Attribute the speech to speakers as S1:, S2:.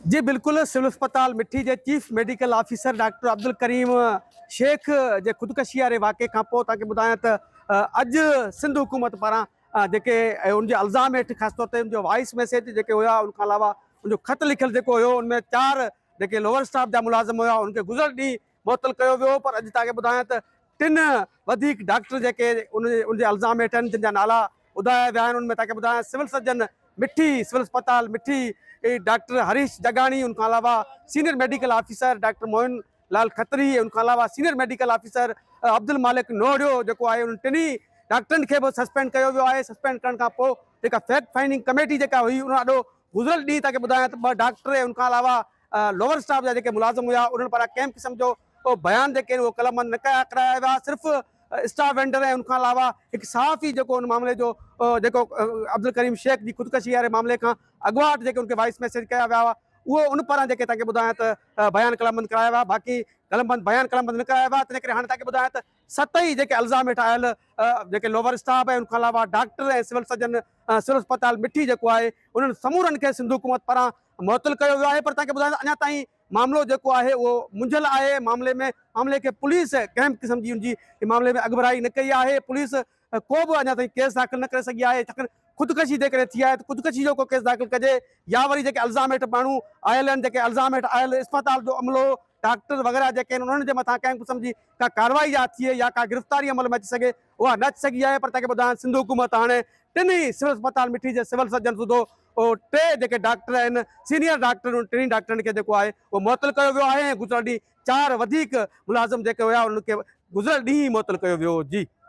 S1: جي بلڪل سول اسپتال مٺي جي chief medical officer doctor Abdul Karim Shaikh جي خودڪشي واري واقعي کان پوء توهان کي ٻڌايان ته اڄ سنڌ حڪومت پاران جيڪي ان جي الزام هيٺ خاص طور تي ان جو وائيس ميسيج جيڪي هيا ان کان علاوه ان جو خط لکيل جيڪو هيو ان ۾ چار جيڪي لوور اسٽاف جا ملازم هيا ان کي گذريل ڏينهن معطل ڪيو ويو پر اڄ توهان کي ٻڌايان ته ٽن وڌيڪ ڊاڪٽر جيڪي ان ان جي الزام هيٺ آهن جن جا نالا ٻڌايا ويا آهن ان ۾ توهان کي ٻڌايان سول سرجن مٺي سول اسپتال مٺي ڊاڪٽر هريش جگاڻي ان کان علاوه senior medical officer doctor Mohan Lal Khatri ان کان علاوه senior medical officer Abdul Malik Noriyo جيڪو آهي ان ٽنهي ڊاڪٽرن کي به سسپينڊ ڪيو ويو آهي سسپينڊ ڪرڻ کان پوء جيڪا فيڪٽ فائنڊنگ ڪميٽي جيڪا هئي ان آڏو گذريل ڏينهن توهان کي ٻڌايان ته ٻه ڊاڪٽر ان کان علاوه لوور اسٽاف جا جيڪي ملازم هيا انهن پاران ڪنهن به قسم جو ڪو بيان جيڪي آهن اهي قلم بند نه ڪيا ڪرايا ويا صرف اسٽاف وينڊر ۽ ان کان علاوه هڪ صحافي جيڪو ان معاملي جو جيڪو عبدالڪريم شيخ جي خودڪشي واري معاملي کان اڳواٽ جيڪي ان کي وائس ميسيج ڪيا ويا هئا اهو ان پاران جيڪي تنهن کي ٻڌايان ته بيان قلم بند ڪرايا ويا باقي قلم بند بيان قلم بند نه ڪرايا ويا تنهن ڪري هاڻي تنهن کي ٻڌايان ته ست ئي جيڪي الزام هيٺ آيل جيڪي لوور اسٽاف ۽ ان کان علاوه ڊاڪٽر ۽ سول سرجن سول اسپتال مٺي جيڪو آهي انهن سمورن کي سنڌ حڪومت پاران معطل ڪيو ويو آهي پر تنهن کي ٻڌايو ته اڃا تائين معاملو جيڪو آهي اهو منجهيل آهي معاملي ۾ معاملي کي پوليس ڪنهن به قسم جي ان جي معاملي ۾ اڳڀرائي نه ڪئي آهي پوليس ڪو به اڃا تائين ڪيس داخل نه ڪري سگهي آهي، ڇاڪاڻ خودڪشي جيڪڏهن ٿي آهي ته خودڪشي جو ڪو ڪيس داخل ڪجي يا وري جيڪي الزام هيٺ ماڻهو آيل آهن، جيڪي الزام هيٺ آيل اسپتال جو عملو، ڊاڪٽر وغيره جيڪي آهن انهن جي مٿان ڪنهن قسم جي ڪا ڪارروائي يا ٿئي يا ڪا گرفتاري عمل ۾ اچي سگهي اها نه اچي سگهي آهي پر تنهن کي ٻڌائڻ سنڌ حڪومت هاڻي ٽن ئي سول اسپتال مٺي جي سول سرجن سوڌو ٽي جيڪي ڊاڪٽر آهن سينيئر ڊاڪٽر انهن ٽنهي ڊاڪٽرن کي جيڪو آهي اهو معطل ڪيو ويو آهي ۽ گذريل ڏينهن چار وڌيڪ ملازم جيڪي هيا انهن کي گذريل ڏينهن ئي معطل ڪيو ويو جي.